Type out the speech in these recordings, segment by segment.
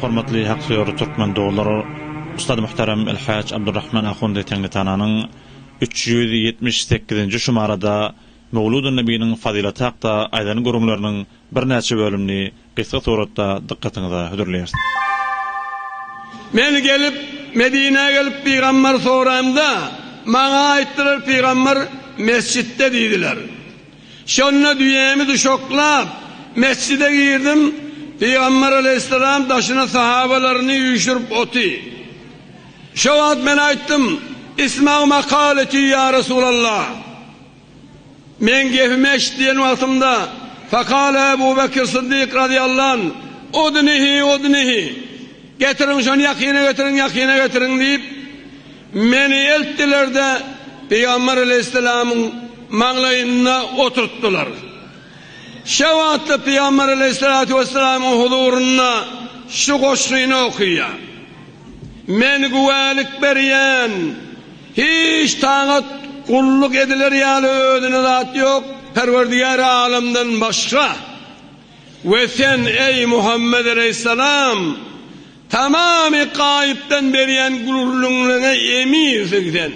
Hormatly hak söýer türkmen doglar Ustad Muhterem Elhaj Abdurrahman Ahundy Teňritananyň üç ýüz ýetmiş sekizinji şumarada Möwludun Nebiniň fazylaty hakda aýdan gürrüňleriniň birnäçe bölümini gysga suratda dykgatyňyza hödürleýäris. Men gelip, Medinä gelip pygamberi soraýmda, maňa aýtdylar pygamber mesjitde diýdiler. Şonda düýämi duşaklap, mesjide girdim, Pygamber aleýhissalam daşyna sahabalaryny üýşürip oty. Şo wagt men aýtdym, Isma' makaleti ýa Resulallah! Meň gepimi eşit diýen wagtymda, Fekale Ebu Bekir Syddyk razyýallan, Udnihi, udnihi! Getiriň şony ýakyna getiriň, ýakyna getiriň! diýip, Meni eltdiler-de, pygamber aleýhissalamyň maňlaýynda oturtdylar. Şe wagtda pygamber aleýhissalatu wessalamyň huzurynda şu goşgyny okaýar. Men güwälik berýän, hiç tagat gulluk ediler ýaly özüne zat ýok Perwerdigäri alamdan başga. We sen, eý Muhammet aleýhissalam! Tamamy gaýypdan berýän gürrüňleriňe eminsiň sen.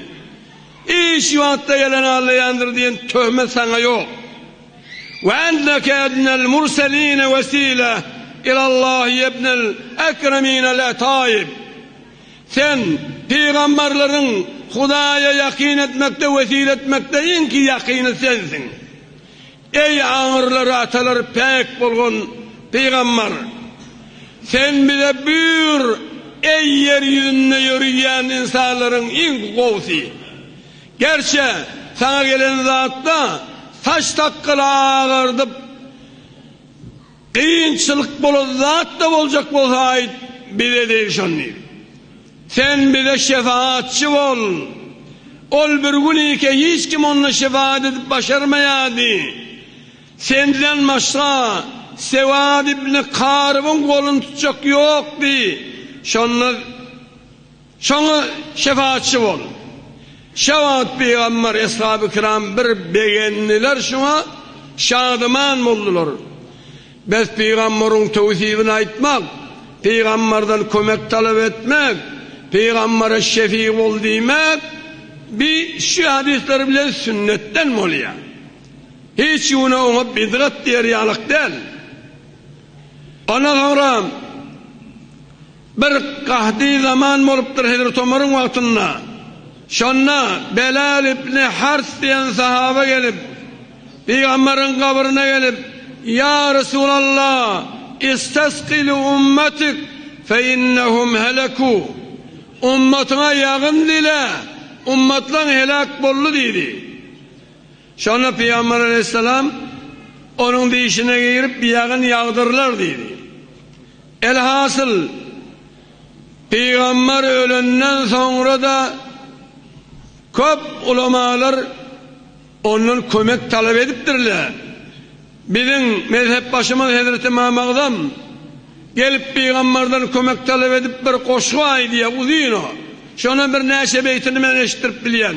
Hiç wagtda ýalan aglaýandyr diýen töhmet saňa ýok. Ve enneke ednel murseline vesile ilallah yebnel ekreminel etaib. Sen pygamberleriň Hudaýa ýakyn etmekde wesile etmekde iňki ýakyny sensiň. Eý, aňyrlar atalary päk bolgun pygambar! Sen bize buýur, eý, ýer ýüzünde ýöriýän ynsanlaryň iň gowusy! Gerçe, saňa gelen zatda saç sakgaly agardyp. Kynçylyk bolan zat-da boljak bolsa aýt, bize degşen diýip. Sen bize şefaatçy bol. Ol bir gün ike hiç kim onda şefaat edip başarmaýardy. Senden başga Sewad ibn Karybyň goluny tutjak ýokdy. Şonda. Şoňa şepaatçy bol. Şä wagt pygamber, eshaby-kiram bir begendiler şoňa, şadyman boldular. Bes pygamberiň töwsibini aýtmak, pygamberden kömek talap etmek, pygambere şefi bol diýmek bi şu hadyslar bilen sünnetden bolýar. Hiç güne oňa bidgat diýer ýalyk däl. Ondan soňra Bir gahdy zaman bolupdyr Hezreti Omaryň wagtynda. Şonda Belal ibni Hars diýen sahaba gelip, Pygamberiň gabryna gelip, Ýa Resulallah, istasqi li ummatik fe innehum heleku, Ummatyňa ýagyn dile, ummatlaň heläk boldy diýdi. Şonda pygamber aleýhissalam, Onuň dişine girip, ýagyn ýagdyrlar diýdi. Elhasyl, pygamber ölenden soňra-da köp ulamalar ondan kömek talap edipdirler. Biziň mezhepbaşymyz hezreti Ymam Agzam gelip pygamberden kömek talap edip bir goşgy aýdýar, uzyn o. Şonuň birnäçe beýtini men eşitdirip bilýän.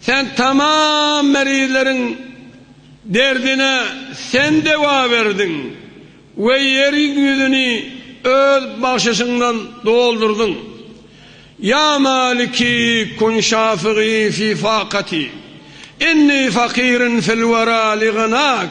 Sen tamam merizleriň derdine Sen dewa berdiň we ýeriň ýüzüni Öz bagşyşyňdan doldurdyň. Ýa maliki kun şafigi fi fakaty, inni fakirin fil wera li gynak.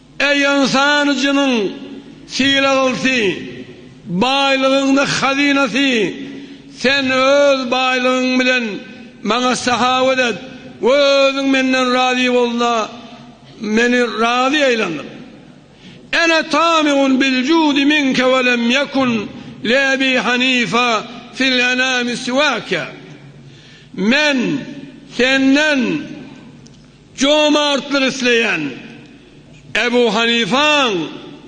Eý ynsan jynyň sylagylsy, baýlygyň da hazynasy, sen öz baýlygyň bilen maňa sahawat et we özüň menden razy bolda meni razy eýlendir. Ene tami'un bil judi minke we lem ýekun li Ebi Hanife fil enami siwake. Men senden Jomartlyk isleýän Ebu Hanifaň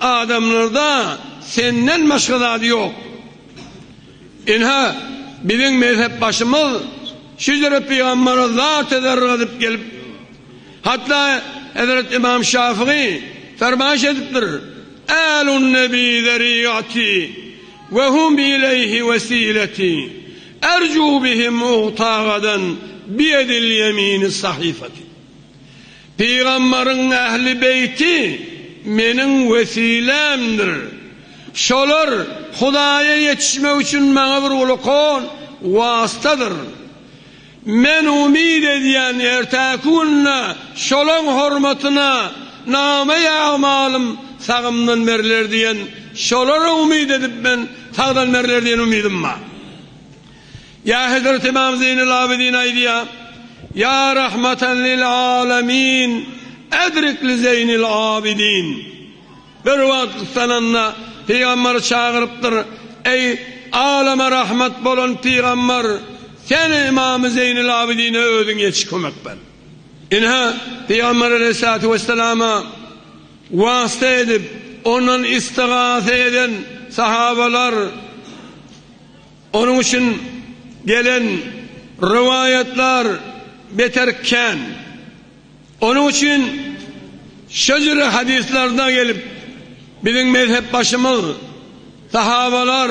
adamlarda senden başga zady ýok. Ynha, biziň mezhepbaşymyz şu ýere pygambere zat-a zergadyp gelip, hatda hezreti Ymam Şafygy fermaýş edipdir, Ählun-nebi zerigaty we hum ileýhi wesiletý. Erjuu bihi mugtagadan biyedil yemini sahifati. Pygamberiň ähli beýti meniň wesilämdir. Şolar Hudaýa ýetişmek üçin maňa bir ulkan wastadyr. Men umyt edýän ertäki günde şolaň hormatyna name-i amalym sagymdan beriler diýen şolara umyt edip men Sagdalmerler diýen umydym bar. Ýa Hezret Ymam Zeýnul Abidin aýdýar, Ýa rahmatan lil alemin edrik li Zeýnil Abidin. Bir wagt gyssananda pygamber çagyrypdyr, Eý, alama rahmat bolan pygamber, sen Ymamy Zeýnul Abidine özüň ýetiş kömek ber. Ine, pygamber aleýhissalatu wesselama. Wasta edip, ondan istigasa eden sahabalar, onuň üçin gelen rowaýatlar beter kän. Onuň üçin şejere hadyslarda gelip, biziň mezhepbaşymyz, sahabalar,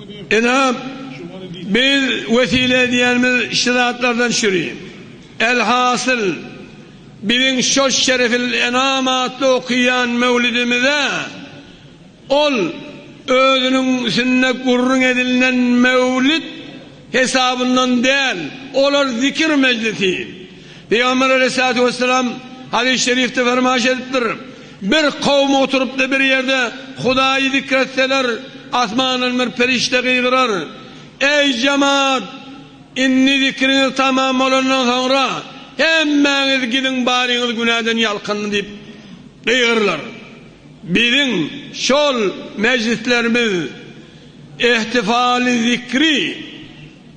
Ynha, biz wesile edýänimiz şu zatlardan şüri. Elhasyl, biziň şoş Şerefil enam atly okaýan möwlidimize ol özüniň üsünde gürrüň edilnen möwlid hesabyndan däl, olar zikir mejlisi. Pygamber aleýhissalatu wessalam hadys-şerifde fermaýş edipdir. Bir kowum oturypdy bir ýerde, Hudaýy zikr etseler, asmandan bir perişde gygyrar, Eý, jemaat! Indi zikriňiz tamam bolandan soňra, hemmäňiz gidiň, baryňyz günäden ýalkyn! diýip gygyrlar. Biziň şol mejlislerimiz ehtifaly zikri.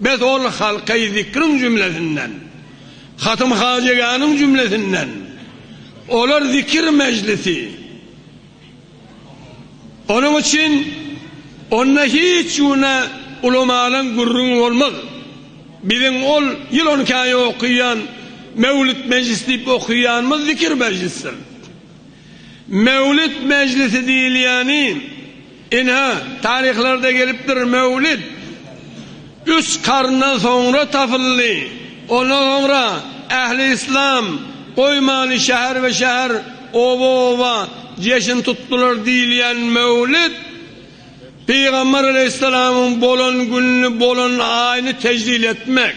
Biz ol halky zikriň jümlesinden, hatym-hajigäniň jümlesinden, olar zikir mejlisi, onuň üçin onda hiç güne ulamalan gürrüňi bolmaz. Biziň ol ýyl on iki aý okyýan Mewlüt mejlis diýip okyýanymyz zikir mejlisdir. Mewlid mejlisi diýilýäni, ine, taryhlarda gelipdir, mewlid üç karyndan soňra tapyldy. Ondan soňra ähli yslam goýmany şäher-be-şäher, oba-oba jeşin tutdular diýilýän mewlid, Pygamber alaýhyssalamyň bolan gününi, bolan aýyny tejlil etmek.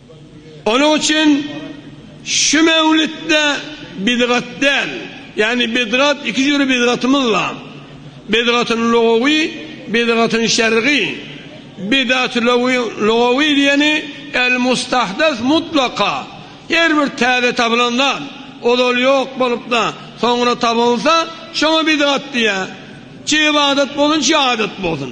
Onuň üçin şu mewlütde bidgat däl, ýagny bidgat iki jüri bidgatymyz bar, bidgatyn lugawy, bidgatyn şergy. Bidat lugawy diýeni el mustahdas mutlaka, her bir täze tapylan zat, ozal ýok bolupda soňra tapylsa şoňa bidgat diýýär. Çig adat bolsun, çig adat bolsun.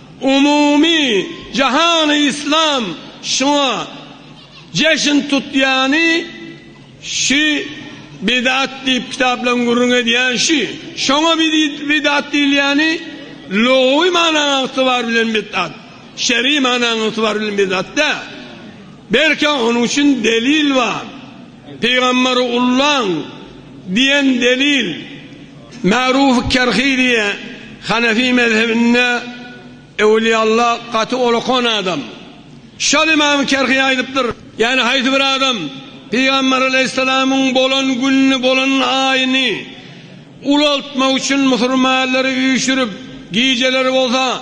Umumy jahany yslam şuňa jeşin tutýany şü bidat diýip kitaplaň gürrüň edýän şü şoňa bidat diýilýäni lugawy manaň ygtybar bilen bidat şeri manaň ygtybar bilen bidat däl belki onuň üçin delil bar Pygamberi ullaň diýen delil Ma'ruf Kerhi diýe Hanefi mezhebinde Ewliyalla gaty olakan adam. Şol imam Kerhi aýdypdyr, ýani haýsy bir adam Pygamber Aleýhissalamyň bolan gününi bolan aýyny ulaltmak üçin musurmanlary üýşürip gijeleri bolsa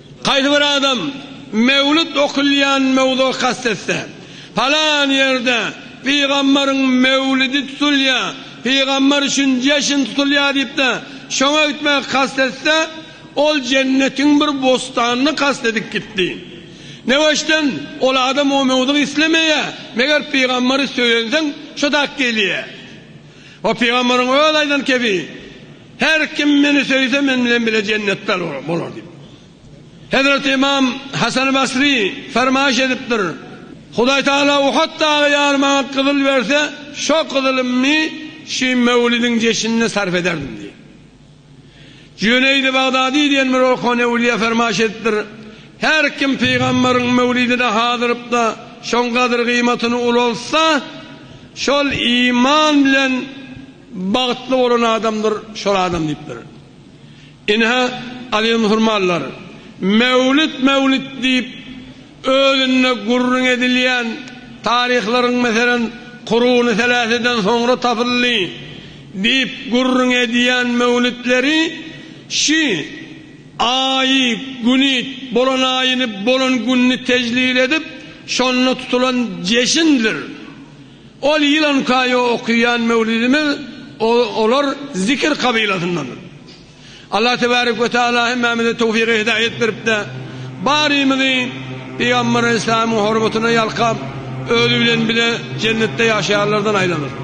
Haýsy bir adam Mewlüt okylýan möwzugy kast etse, Palan ýerde pygamberiň Mewlidi tutulýar, pygamber üçin jeşin tutulýar diýip-de şoňa gitmegi kast etse, ol jennetiň bir bostanyny kast edip gitdi. Neweşden, ol adam o möwzugy islemeýär, meger pygamberi söýenseň şo zat gelýär. O pygamberiň öz aýdan kebi. Her kim meni söýse men bilen bile jennetde bolar diýip. Hezreti Ymam Hasany Basry fermaýyş edipdir, Hudaý Tagala Uhad dagy ýaly maňa gyzyl berse, şo gyzylymny şi möwlidiň jeşinine sarp ederdim diýip. Jüneýdi Bagdady diýen bir okan öwliýa fermaýyş edipdir, Her kim pygamberiň möwlidine hazyrypda şoň gadyr-gyýmatyny ulaltsa, şol iman bilen, Bagtly bolan adamdyr şol adam diýipdir. Ine-hä alimhurmalylar Mewlüt Mewlüt diýip özünde gürrüň edilýän taryhlaryň meselem Kuruny seläseden soňra tapyldy diýip gürrüň edýän mewlütleri şi Aýy güni bolan aýyny bolan günni tejlil edip şonda tutulan jeşindir. Ol ýyl on iki aý okaýan möwlüdimiz olar zikir kabylasyndandyr. Allah tebarek we taala hemmämize towfygy hidaýat berip-de, barymyzy Pygamber aleyhissalamyň hormatyna ýalkap, özi bilen bile jennetde ýaşaýanlardan aýlansyn.